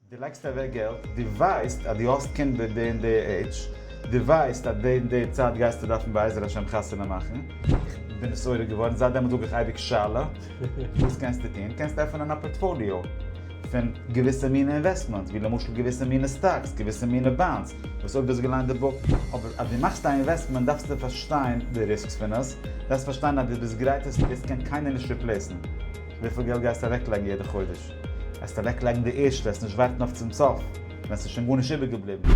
די לייגסט אוועק געלט, די ווייסט אז די האסט קינד ביי די און די עידזש, די ווייסט אז די און די צייט גייסטו דארפן בעזר השם חתונה מאכן, איך בין נתעורר געווארן, זייט דעמאלט זאג איך אייביג שאלה, וואס קענסטו טון? קענסט עפענען א פארטפאליאו פון געוויסע מינע אינוועסטמענטס, ווי למשל געוויסע מינע סטאקס, געוויסע מינע באנדס, וואס אויב דו האסט געליינט די בוק, אבער אז דו מאכסט א אינוועסטמענט דארפסטו פארשטיין די ריסקס פון עס, דארפסט פארשטיין אז דו ביסט גרייט עס, עס קען קיינער נישט ריפלעיסן, וויפיל געלט גייסטו אוועקלייגן יעדע חודש? העסט אוועק לייגן די ערשטע העסט נישט ווארטן אויף צום סוף ווען ס'איז שוין גארנישט איבער געבליבן.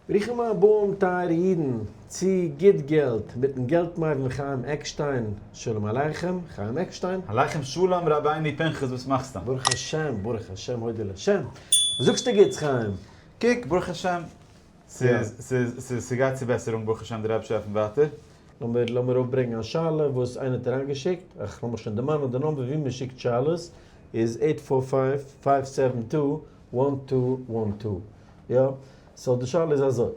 ברוכים הבאים טייערע אידן צו גוט געלט מיטן געלט-מבין חיים עקשטיין, שלום עליכם חיים עקשטיין. עליכם שלום רבינו פנחס וואס מאכסטו? ברוך השם ברוך השם הודו לה'. זאגסטו גוטס חיים! קוק ברוך השם! ס'גייט צו בעסערונג ברוך השם די רבש ע עפנט ווייטער. לאמיר לאמיר אויפברענגן א שאלה וואס איינער האט אריינגעשיקט, אך לאמיך שוין דערמאנען די נומבער ווי מען שיקט שאלות איז עיט פאר פייוו פייוו סעווען טו וואן טו וואן טו יא? סאו די שאלה איז אזוי,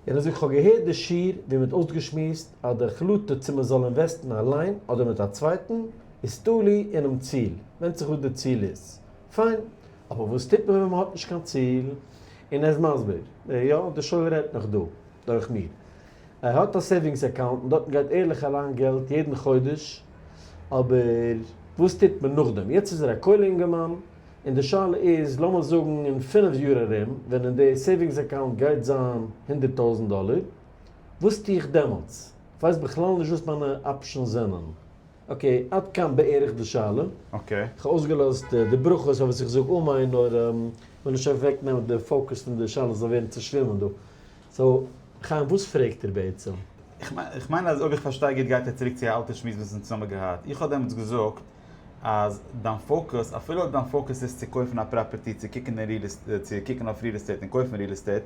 יענער זאגט כ'האב געהערט די שיעור ווי מען האט אויסגעשמועסט אז די החלטה צו מען זאל אינוועסטן אליין אדער מיט א צווייטן איז תלוי אינעם ציל, ווענדט זיך וואס די ציל איז, פיין, אבער וואס טוט מען ווען מ'האט נישט קיין ציל? און ער איז מסביר, יא, די שויער רעדט נאך דא, דורך מיר. ער האט א סעיווינגס אקאונט און דארטן גייט ערליך אריין געלט יעדן חודש, אבער וואס טוט מען נאכדעם? יעצט איז ער א כולל אינגערמאן, און די שאלה איז, לאמיר זאגן אין פֿינף יאר ארום, ווען אין די סעיווינגס אקאונט גייט זיין הונדערט טויזנט דאלער, וואס טו איך דעמאלטס? כ'ווייס בכלל נישט וואס מיינע אפשענס זענען. אקעי, עד כאן בערך די שאלה. אקעי. כ'האב אויסגעלאזט די ברכות אויף וואס איך זאג אמן, נאר מ'זאל נישט אוועקנעמען די פאוקוס פון די שאלה זאל ווערן צושווימען דא. סאו, חיים וואס פרעגט ער בעצם? איך מיין אז אויב איך פארשטיי גוט גייט ער צוריק צו א אלטע שמועס וואס אונז צוזאמען געהאט. איך האב דעמאלטס געזאגט אז דיין פאוקוס, אפילו אויב דיין פאוקוס איז צו קויפן א פראפערטי, צו קוקן אויף ריעל עסטעיט און קויפן ריעל עסטעיט,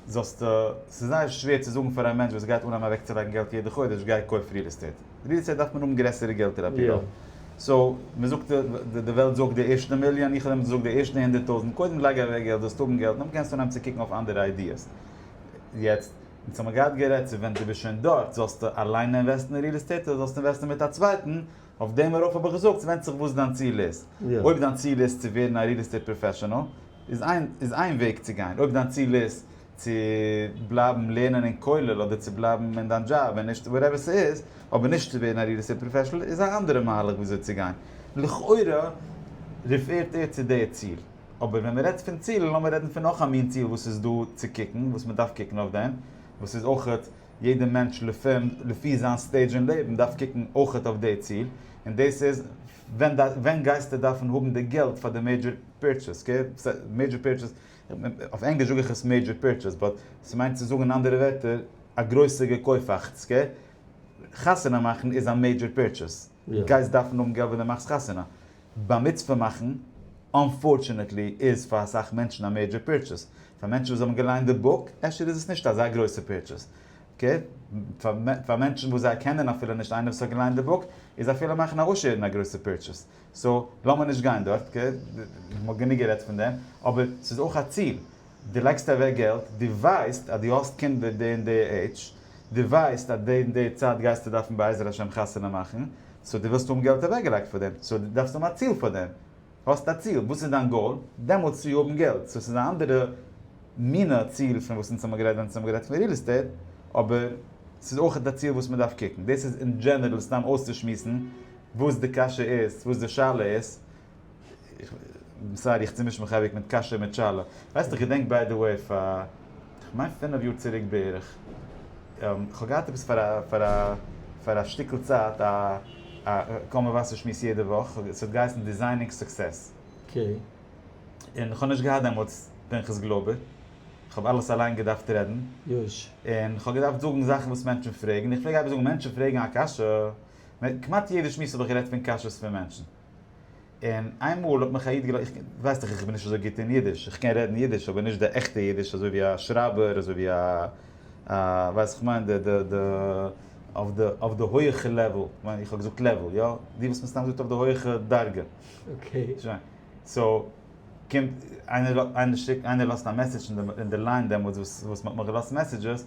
זאלסטו, ס'איז זייער שווער צו זאגן פאר א מענטש וואס גייט אנהייבן אוועקצולייגן געלט יעדע חודש גיי קויף ריעל עסטעיט, ריעל עסטעיט דארף מען האבן גרעסערע געלטער עפ י רוב, סאו מ'זאגט די וועלט זאגט די ערשטע מיליאן, איך האב דעם זאגט די ערשטע הונדערט טויזנט, קודם לייג אוועק געלט זאלסט האבן געלט, נאך דעם קענסטו אנהייבן צו קוקן אויף אנדערע איידיעס. יעצט, אונז האמיר געהאט גערעדט צו ווען דו ביסט שוין דארט זאלסטו אליין אינוועסטן אין ריעל עסטעיט אדער זאלסטו אינוועסטן מיט א צווייטן, אויף דעם ארויף האב איך געזאגט ס'ווענדט זיך וואס דיין ציל איז. אויב דיין ציל איז צו ווערן א ריעל עסטעיט פראפעשענעל איז איין איז איין וועג צו גיין, אויב דיין ציל איז צו בלייבן לערנען אין כולל אדער צו בלייבן אין דיין דזשאב און נישט וואטעווער ס'איז, אבער נישט צו ווערן א ריעל עסטעיט פראפעשענעל איז א אנדערע מהלך ווי אזוי צו גיין. לכאורה ריפערט ער צו די ציל. אבער ווען מ'רעדט פון צילן לאמיר רעדן פון נאך א מין ציל וואס איז דא צו קוקן, וואס מ'דארף קוקן אויף דעם, וואס איז אויך יעדע מענטש לפענ ד לפי זיין סטעידזש אין לעבן דארף קוקן אויכעט אויף די ציל, און דאס איז ווען דיין ווען גייסטו דארפן האבן די געלט פאר די מעידזשער פירטשעס אקעי, מעידזשער פירטשעס, אויף ענגליש זאג איך עס מעידזשער פירטשעס באט ס'מיינט צו זאגן אין אנדערע ווערטער א גרויסע געקויפאכטס אקעי, חתונה מאכן איז א מעידזשער פירטשעס, גייסט דארפן האבן געלט ווען די מאכסט חתונה, בר מצוה מאכן, אנפארטשענעטלי איז פאר אסאך מענטשן א מעידזשער פירטשעס. פאר מענטשן וואס האבן געליינט די בוק, אפשר איז עס נישט אזא גרויסע פירטשעס. אקעי, פאר מענטשן וואס זיי קענען אפילו נישט איינער וואס האט געליינט די בוק, איז אפילו מאכן א עושר א גרויסע פירטשעס. סאו, לאמיר נישט גיין דארט, אקעי, מ'האט גענוג גערעדט פון דעם. אבער ס'איז אויך א ציל. די לייגסט אוועק געלט, די ווייסט אז די האסט קינדער די און די עידזש, די ווייסט אז די און די צייט גייסטו דארפן בעזר השם חתונה מאכן, סאו די ווילסט האבן געלט אוועק געלייגט פאר דעם, סאו די דארפסט האבן א ציל פאר דעם, האסט א ציל, וואס איז דיין גאול? דעמאלטס צו האבן געלט, סאו ס'איז א אנדערע מינע ציל פון וואס אונז האבן גערעדט ווען אונז האבן גערעדט פון ריעל עסטעיט, אבער ס'איז אויכעט א ציל וואס מ'דארף קוקן, דאס איז אין דזשענערל סתם אויסצושמועסן וואס די קשיא איז, וואס די שאלה איז, סארי איך צומיש מיך אייביג מיט קאשע מיט שאלה. ווייסט איך געדענק ביי די וועי פאר כ'מיין פינעף יאר צוריק בערך, כ'האב געהאט עפעס פאר א פאר א פאר א שטיקל צייט א א קול מבשר שמועס יעדע וואך, ס'האט געהייסן דיזיינינג סוקסעס. און כ'האב נישט געהאט דעמאלטס פנחס גלאבער, כ'האב אלעס אליין געדארפט רעדן, און כ'האב געדארפט זאגן זאכן וואס מענטשן פרעגן, איך פלעג אייביג זאגן מענטשן פרעגן א קשיא, כמעט יעדע שמועס האב איך גערעדט פון קשיות פון מענטשן. און איינמאל האט מיך א איד געלא. ווייסט דאך איך בין נישט אזוי גוט אין אידיש, איך קען רעדן אידיש אבער נישט די עכטע אידיש אזוי ווי א שרייבער אזוי ווי א א ווייסט איך מיין די די די אויף די אויף די הויעכע לעוועל, כ'מיין איך האב געזאגט לעוועל יא? די וואס מ'סתם זאגט אויף די הויעכע דרגה. שוין. סאו קומט איינער איינער שיקט איינער לאזט א מעסעדזש אין די אין די ליין דעמאלטס וואס וואס מ'האט מיך געלאזט מעסעדזשעס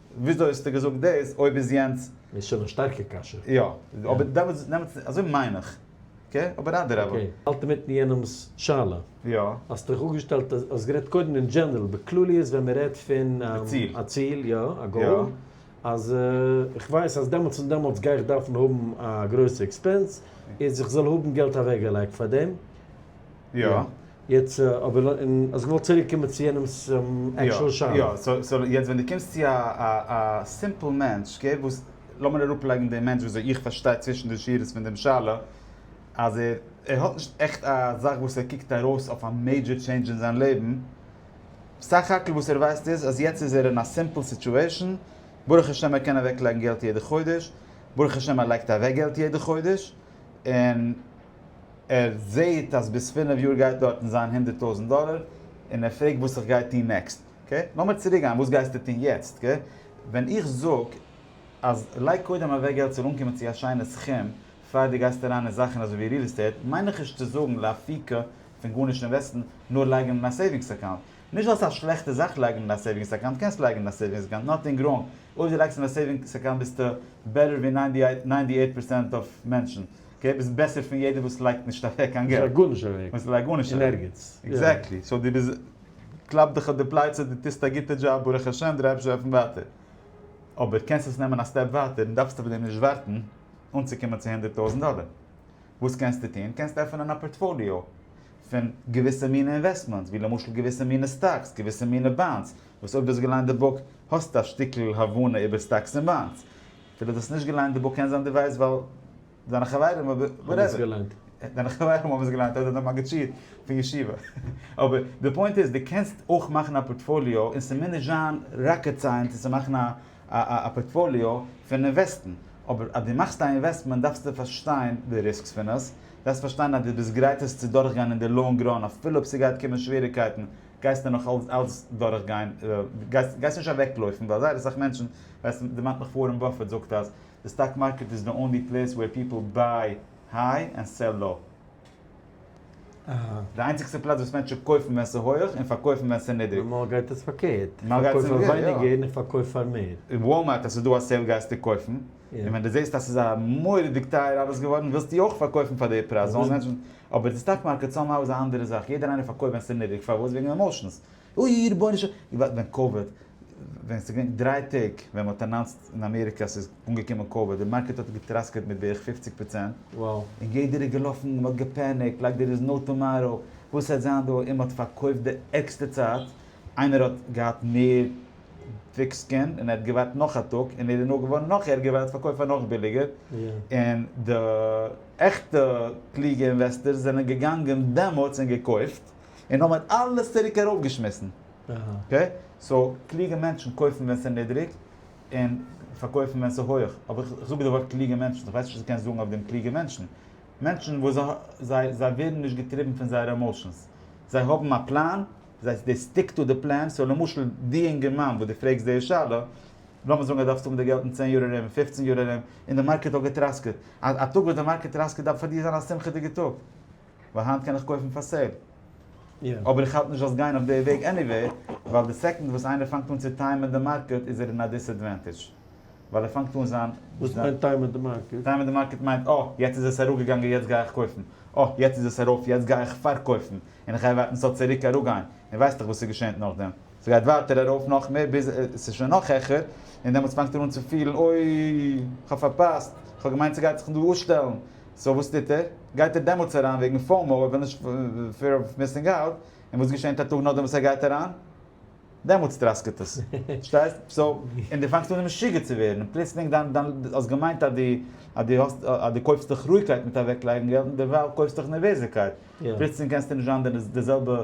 וויאזוי האסטו געזאגט דאס אויב איז יענץ. איז שוין א שטארקע קשיא. יא, אבער דעמאלטס דעמאלטס אזוי מיין איך. אקעי, אבער אדרבה. אקעי, האלט אינמיטן יענעמס שאלה. יא. האסט דיך אפגעשטעלט, האסט גערעדט קודם אין דזשענערל, בכלליות ווען מען רעדט פון. א ציל. א ציל, יא, א גאול. יא. אז איך ווייס אז דעמאלטס און דעמאלטס גיי איך דארפן האבן א גרויסע עקספענס, איז איך זאל האבן געלט אוועקגעלייגט פאר דעם. יא. יעצט אבער און האסט געוואלט צוריק קומען צו יענעמ'ס עקשועל שאלה. יא יא סאו יעצט ווען דו קומסט צו א א סימפל מענטש אקעי וואס לאמיר אראפ לייגן דעם מענטש וויאזוי איך פארשטיי צווישן די שורות פון דעם שאלה אז ער ער האט נישט עכט א זאך וואס ער קוקט ארויס אויף א מעידזשער טשעינדזש אין זיין לעבן סך הכל וואס ער ווייסט איז אז יעצט איז ער אין א סימפל סיטועשן ברוך השם ער קען אוועק לייגן געלט יעדע חודש ברוך השם ער לייגט אוועק געלט יעדע חודש און ער זעהט אז ביז פינף יאר גייט דארטן זיין הונדערט טויזענט דאלער, און ער פרעגט וואס איך גיי טוהן נעקסט, אקעי? לאמיר צוריק גיין, וואס גייסטו טוהן יעצט, אקעי? ווען איך זאג אז לייג קודם אוועק געלט ס'זאל אנקומען צו א שיינע סכום פאר דו גייסט אריין אין זאכן אזוי ווי ריעל עסטעיט, מיין איך נישט צו זאגן לאפיקו פון גארנישט אינוועסטן, נאר לייגן אין א סעיווינגס אקאונט. נישט אז ס'איז א שלעכטע זאך לייגן אין א סעיווינגס אקאונט, קענסט לייגן אין א סעיווינגס אקאונט, נאטינג ראנג, אויב דו לייגסט אין א סעיווינגס אקאונט ביסטו בעטער ווי ניינטי אייט פארצענט אוו מענטשן, אקעי ביסט בעסער פון יעדער וואס לייגט נישט אוועק קיין געלט. לייג גארנישט אוועק. וואס לייג גארנישט אוועק. אין ערגעץ. עקזעקטלי. סאו דו ביסט. קלאפ דיך אויף די פלייצע דו טוסט א גוטע דזשאב ברוך השם דו רייבסט אויף ווייטער. אבער קענסט עס נעמען א סטעפ ווייטער און דארפסט אויף דעם נישט ווארטן אנצוקומען צו הונדערט טויזנט דאלער. וואס קענסטו טון? קענסט עפענען א פארטפאליאו פון געוויסע מינע אינוועסטמענטס ווי למשל געוויסע מינע סטאקס געוויסע מינע באנדס וואס אויב דו האסט געליינט די בוק האסטו א שטיקל הבנה איבער סטאקס און באנדס. די וואס האסט נישט געליינט די בוק קען זיין די ווייסט ווייל דיינע חברים אבער וואטעווער דיינע חברים האבן עס געליינט אדער די מגיד שיעור פון ישיבה אבער די פוינט איז די קענסט אויך מאכן א פארטפאליאו און ס'מוז נישט זיין ראקעט סייענס צו מאכן א א פארטפאליאו פון אינוועסטן אבער אז די מאכסט א אינוועסטמענט דארפסטו פארשטיין די ריסקס פון עס דארפסט פארשטיין אז די ביסט גרייט עס צו דורכגיין אין די לאנג ראן אפילו אויב ס'גייט קומען שוועריקייטן גייסטו נאך אלץ דורכגיין גייסט נישט אוועקלויפן ווייל זייער אסאך מענטשן ווייסט די דערמאנט מיך ווארען באפעט זאגט אז די סטאק מארקעט איז די אנלי פלעיס וועיר פיפעל ביי היי ענד סעל לאו. די איינציגסטע פלאץ וואס מענטשן קויפן ווען ס'איז הויעך און פארקויפן ווען ס'איז נידריג. נארמאל גייט עס פארקערט, איך פארקויף פאר ווייניגער און איך פארקויף פאר מער. אין וואלמארט אז ס'איז דא א סעיל גייסטו קויפן, און ווען די זעסט אז ס'איז א מורא'דיג טייער אלעס געווארן ווילסטו אויך פארקויפן פאר די פרייז, אבער די סטאק מארקעט סאם האו איז א אנדערע זאך, יעדער איינער פארקויפט ווען ס'איז נידריג, פארוואס? וועגן עמאושענס, אוי רבונו של עולם, ווען קאוויד, ווען ס'איז געווען דריי טעג ווען מ'האט אנאנסט אין אמעריקע אז ס'איז אנגעקומען קאוויד, די מארקעט האט געטראסקעט מיט בערך פופציג פראצענט, און יעדער איז געלאפן און מ'האט געפעניקט לייק דער איז נאו טאמאראו, וואס עס וועט זיין דא, און מ'האט פארקויפט די ערגסטע צייט, איינער האט געהאט מער וויק סקין און ער האט געווארט נאך א טאג און ער איז נאר געווארן נאך ערגער ווייל ער האט פארקויפט פאר נאך ביליגער, און די עכטע קלוגע אינוועסטערס זענען געגאנגען דעמאלטס און געקויפט. און האבן מיט אלעס צוריק ארויפגעשמיסן. אקעי? סאו, קלוגע מענטשן קויפן ווען ס'איז נידריג, און פארקויפן ווען ס'איז הויעך. אבער איך זאג די ווארט קלוגע מענטשן, איך ווייס נישט וואס דו קענסט זאגן אויף דעם קלוגע מענטשן. מענטשן וואס זיי זיי ווערן נישט געטריבן פון זייערע עמאושענס. זיי האבן א פלאן, זיי דעי סטיק טו די פלאן. סאו למשל די אינגערמאן וואס דו פרעגסט די שאלה, לאמיר זאגן אז דו דארפסט האבן די געלט אין צען יאר ארום, אין פופצן יאר ארום, און די מארקעט האט געטראסקעט. א טאג וואס די מארקעט טראסקעט דארף פאר דיר זיין א שמחה'דיגע טאג. ווייל היינט קען איך קויפן פאר סעיל. אבער איך האלט נישט זאלסט גיין אויף די וועג עניוועי, ווייל די סעקאנד וואס איינער פאנגט אן צו טיימען די מארקעט איז ער אין א דיסעדווענטעדזש. ווייל ער פאנגט אן זיין. וואס מיינט טיימען די מארקעט? טיימען די מארקעט מיינט אה, יעצט איז עס אראפגעגאנגען יעצט גיי איך קויפן. אה, יעצט איז עס ארויף יעצט גיי איך פארקויפן. און איך גיי ווארטן ס'זאל צוריק אראפגיין. און ווייסטעך וואס ס'געשענט נאכדעם. ס'גייט ווייטער ארויף נאך מער ביז עס איז שוין נאך העכער, און דעמאלטס פאנגט ער אן צו פילן, אוי, כ'האב פארפאסט, כ'האב געמיינט ס'גייט זיך דא אפשטעלן, סאו וואס טוט ער? גייט ער דעמאלטס אריין וועגן פאומו, ער וויל נישט, פיער אוו מיסינג אוט, און וואס געשענט א טאג נאכדעם וואס ער גייט אריין? דעמאלטס טראסקעט עס, פארשטייסט? סאו, און דו פאנגסט אן משוגע צו ווערן, און פלוצלינג דיין, דיין, האסט געמיינט אז דו, אז דו קויפסט דיך רואיגקייט מיט אוועקלייגן געלט, און דערווייל קויפסטו דיך נערוועזיקייט, פלוצלינג קענסטו נישט זיין די זעלבע.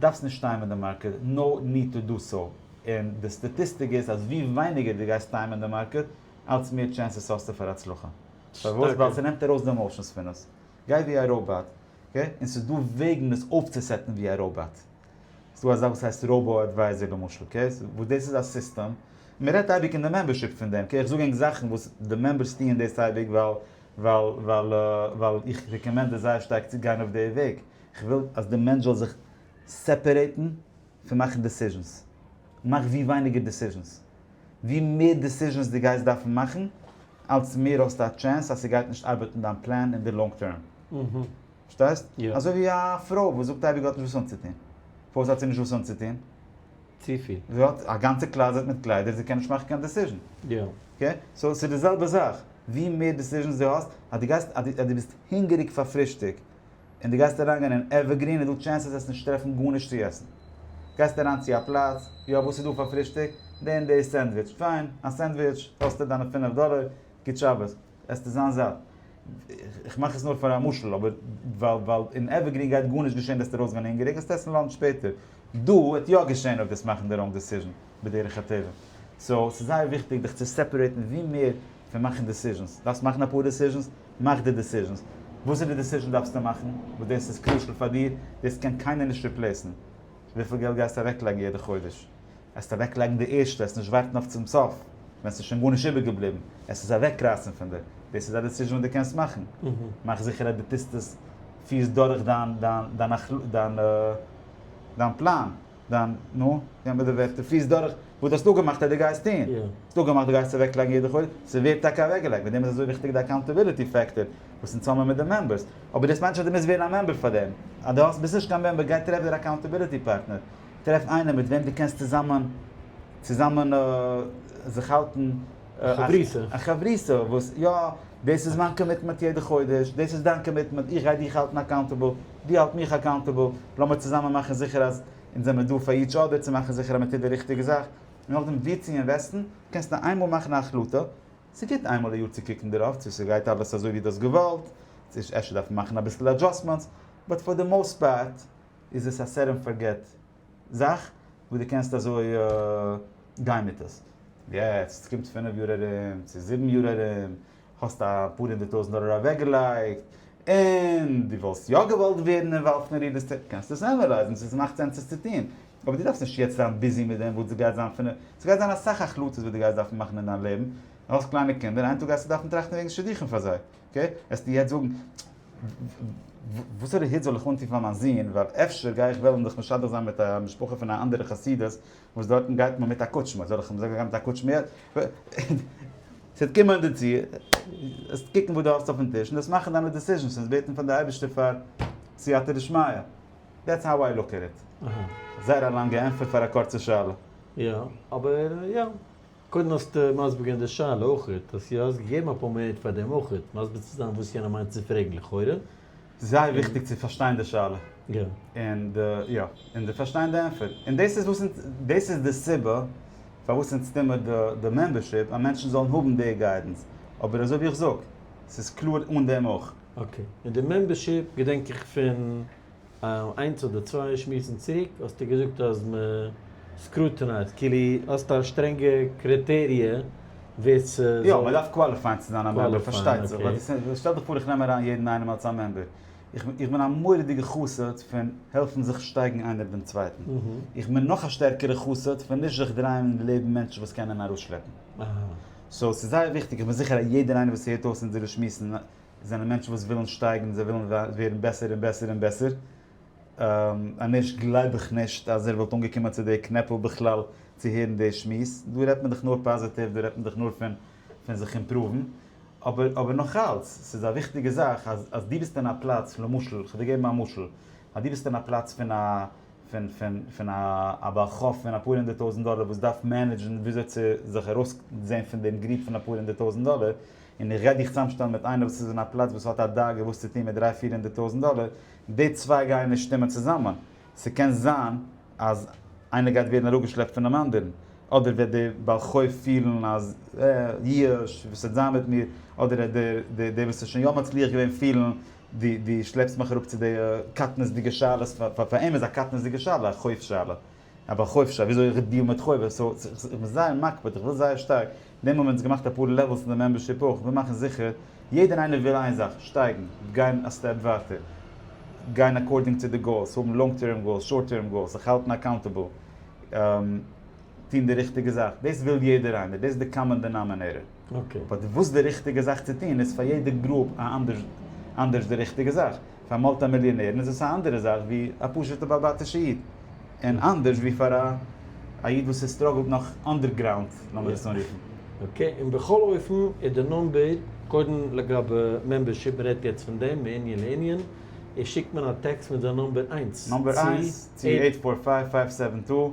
דארפסט נישט טיימען די מארקעט, נאו ניד טו דא סאו, און די סטאטיסטיק איז אז ווי ווייניגער דו גייסט טיימען די מארקעט, אלץ מער טשענסעס האסטו פאר הצלחה. פארוואס? ווייל ס'נעמט ארויס די עמאושענס פון עס. גיי ווי א ראובאט. אקעי? און ס'איז דא וועגן עס אויפצוסעטן ווי א ראובאט. ס'איז דא א זאך וואס הייסט ראובא אדווייזער למשל, אקעי? וואס דאס איז א סיסטעם, מען רעדט אייביג אין די מעמבערשיפ פון דעם, אקעי? איך זאג ענק זאכן וואס די מעמבערס טוען דאס אייביג ווייל ווייל ווייל איך רעקאמענד עס זייער שטארק צו גיין אויף די וועג. כ'וויל אז די מענטש זאל זיך סעפערעיטן פון מאכן דעסיזשענס. מאך ווי ווייניגער דעסיזשענס. ווי מער דעסיזשענס דו גייסט דארפן מאכן, אלץ מער האסטו א טשענס אז ס'גייט נישט ארבעטן דיין פלאן אין די לאנג טערם. פארשטייסט? אזוי ווי א פרוי וואס זאגט אייביג האט נישט וואס אנצוטון. פארוואס האט זי נישט וואס אנצוטון? צופיל. זי האט א גאנצע קלאזעט מיט קליידער, זי קען נישט מאכן קיין דעסיזשען. אקעי? סאו ס'איז די זעלבע זאך. ווי מער דעסיזשענס דו האסט, אז דו גייסט, אז דו ביסט הונגעריג פאר פרישטאג, און דו גייסט אריינגיין אין עווערגרין איז דא טשענסעס אז נישט טרעפן גארנישט צו עסן. גייסט אריין צו א פלאץ, יא וואס איז דא פאר פרישטאג? די און די סענדוויטש. פיין, א סענדוויטש קאסט דיר דיינע פינף דאלער, גוט שבת, עסטו זיין זאט. איך מאך עס נאר פאר א משל, אבער ווייל ווייל אין עווערגרין גייט גארנישט געשען וועסטו ארויסגיין הונגעריג, גייסטו עסן לאנטש שפעטער. דא וועט יא געשען אויב וועסט מאכן די ראנג דעסיזשן. בדרך הטבע. סאו ס'איז זייער וויכטיג דיך צו סעפערעיטן ווי מער פון מאכן דעסיזשענס. דארפסט מאכן אפאר דעסיזשענס? מאך די דעסיזשענס. וואס איז די דעסיזשען דארפסטו מאכן? וואס דאס איז קרושעל פאר דיר? דאס קען קיינער נישט ריפלעיסן. וויפיל געלט גייסטו אוועקלייגן יעדע חודש? עסט אוועקלייגן די ערשטע, עסט נישט ווארטן אויף צום סוף ווען ס'איז שוין גארנישט איבערגעבליבן, עסט עס אוועקרייסן פון דיר. דאס איז א דעסיזשען וואס דו קענסט מאכן. מאך זיכער אז דו טוסט עס, פירסט דורך דיין פלאן. דיין, נו, געב מיר די ווערטער, פליס דורך וואס דו האסט אפגעמאכט אז דו גייסט טון. דו האסט אפגעמאכט דו גייסט אוועקלייגן יעדע חודש, ס'ווערט טאקע אוועקגעלייגט, מיט דעם איז אזוי וויכטיג די אקאונטעביליטי פעקטאר, וואס אין צוזאמען מיט די מעמבערס. אבער דאס מיינט נישט אז דו מוזט ווערן א מעמבער פאר דעם. אז דו האסט, ביסט נישט קיין מעמבער, גיי טרעף דיר א אקאונטעביליטי פארטנער. טרעף איינעם מיט וועם דו קענסט צוזאמען, צוזאמען זיך האלטן. חברותא. א חברותא וואס יא, דאס איז מיין קאמיטמענט יעדע חודש, דאס איז דיין קאמיטמענט, איך גיי דיך האלטן אקאונטעבל, דו האלט מיך אקאונטעבל, לאמיר צוזאמען מאכן זיכער אז אונז זעמיר דא פאר איטש אדער צו מאכן זיכער אז מען טוט די ריכטיגע זאך, און נאכדעם וואו צו אינוועסטן, קענסט נאר איינמאל מאכן א החלטה, ס'איז גוט איינמאל א יאר צו קוקן דערויף צו ס'גייט אלעס אזוי ווי דו האסט געוואלט, צו אפשר דארף מען מאכן אביסל אדזשאסמענטס, באט פאר די מאוסט פארט איז עס א סעט ענד פארגעט. זאך וואס דו קענסט אזוי גיין מיט עס. יעצט קומט פינף יאר ארום צו זיבן יאר ארום, האסט אפאר הונדערט טויזנט דאלער אוועקגעלייגט, און דו וואלסט יא געוואלט ווערן אינוואלווד אין ריעל עסטעיט, קענסטו עס ענעלייזן צו עס מאכט סענס עס צו טון. אבער דו דארפסט נישט יעצט זיין ביזי מיט דעם וואס דאס גייט זיין פינף, עס גייט זיין אסאך החלטות וואס דו גייסט דארפן מאכן אין דיין לעבן, דו האסט קליינע קינדער, איין טאג גייסטו דארפן טראכטן וועגן שידוכים פאר זיי, אקעי, וועסטו יעצט זאגן, וואסערע הוט זאל איך אנטון פאר מיין זון, ווייל אפשר גיי איך וועלן זיך משדך זיין מיט א משפחה פון א אנדערע חסידות, וואס דארטן גייט מען מיט א קוטשמע, זאל איך אים זאגן גיי מיט א קוטשמע הוט? ס'וועט קומען דערצו, וועסט קוקן וואס דו האסט אויפן טיש, און דאס מאכן דיינע דעסיזשענס, און בעטן פאר די אייבערשטער פאר סייעתא דשמיא. דעטס האו איי לוק עט איט. זייער א לאנגע ענטפער פאר א קורצע שאלה. יא, אבער יא. קודם האסטו מסביר געווען די שאלה אויכעט, אז יא האסט געגעבן אפאר מינוט פאר דעם אויכעט מסביר צו זיין וואס יענער מיינט צו פרעגן לכאורה. זייער וויכטיג צו פארשטיין די שאלה און די יא און די פארשטיין די ענפער און דאס איז וואס אונז דאס איז די סיבה פארוואס אונז טוהן מיר די די מעמבערשיפ אז מענטשן זאלן האבן די גיידענס אבער אזוי ווי איך זאג ס'איז קלאר אן דעם אויך. אקעי, מיט די מעמבערשיפ געדענק איך פון איינס אדער צוויי שמועסן צוריק האסטו געזאגט אז מען סקרוטענייזט, כאילו האסט א שטרענגע קריטעריע ווער ס'זאל. יא, מען דארף קוואליפייען צו זיין א מעמבער, פארשטייט זיך, ווייל די, שטעל דיך פאר איך נעם אריין יעדן איינעם אלס א מעמבער, איך, איך בין א מורא'דיגע חסיד פון העלפן זיך שטייגן איינער דעם צווייטן, איך בין נאך א שטערקערע חסיד פון נישט זיך דרייען אין די לעבן מענטשן וואס קענען ארויסשלעפן. סאו, ס'איז זייער וויכטיג, איך בין זיכער אז יעדער איינער וואס הערט אויס אונזערע שמועסן, עס זענען מענטשן וואס ווילן שטייגן, זיי ווילן ווערן בעסער און בעסער און בעסער, אנישט גלייב איך נישט אז ער וואלט אנגעקומען צו די קנעפל בכלל צו הערן די שמועס, דא רעדט מען דאך נאר פאזיטיוו, דא רעדט מען דאך נאר פון פון זיך אימפראוון, אבער אבער נאך אלץ, ס'איז א וויכטיגע זאך אז אז דו ביסט אין א פלאץ, למשל, כ'וועל דיר געבן א משל, אז דו ביסט אין א פלאץ פון א פון פון פון א בעל חוב פון אפאר הונדערט טויזנט דאלער וואס דארף מענעדזשן וויאזוי צו זיך ארויסזען פון דעם גריב פון אפאר הונדערט טויזנט דאלער, און איך גיי דיך צוזאמשטעלן מיט איינער וואס איז אין א פלאץ וואס האט א דאגה וואס צו טון מיט דריי פיר הונדערט טויזענט דאלער, די צוויי גייען נישט שטימען צוזאמען, ס'קען זיין אז איינער גייט ווערן אראפגעשלעפט פונעם אנדערן, אדער וועט דער בעל חוב פילן אז אה, יאוש, וואס וועט זיין מיט מיר, אדער וועט דער דער וואס איז שוין יא מצליח געווען פילן, דו דו שלעפסט מיך אראפ צו די קטנות'דיגע שאלות, פאר אים איז א קטנות'דיגע שאלה א חוב שאלה, א בעל חוב שרייבט וויאזוי איך דיעל מיט חובות, סאו איך בין זייער מקפיד, איך וויל זייער שטארק, דעם האבן אונז געמאכט אפאר לעוועלס אין די מעמבערשיפ אויך, וויל מאכן זיכער, יעדער און איינער וויל איין זאך, שטייגן, גיין א סטעפ ווייטער, גיין אקארדינג צו די גאולס, האבן לאנג טערם גאולס, שארט טערם גאולס, זיך האלטן אקאונטעבל, טון די ריכטיגע זאך, דאס וויל יעדער איינער, דאס איז די קאמאן דענאמענעיטער. באט וואס די ריכטיגע זאך צו טון איז פאר יעדע גרופ אנדערש די ריכטיגע זאך, פאר מולטי מיליאנערן איז עס א אנדערע זאך ווי א פשוטע בעל בתישע איד, און אנדערש ווי פאר א איד וואס איז סטראגלט נאך אנדערגראונד לאמיר עס אנרופן. אקעי, און בכל אופן איז די נומבער, קודם לגבי מעמבערשיפ מען רעדט יעצט פון דעם מענין לענין, איז שיקט מען א טעקסט מיט זיין נומבער איינס צו נומבער איינס צו עיט פאר פייוו פייוו סעווען טו.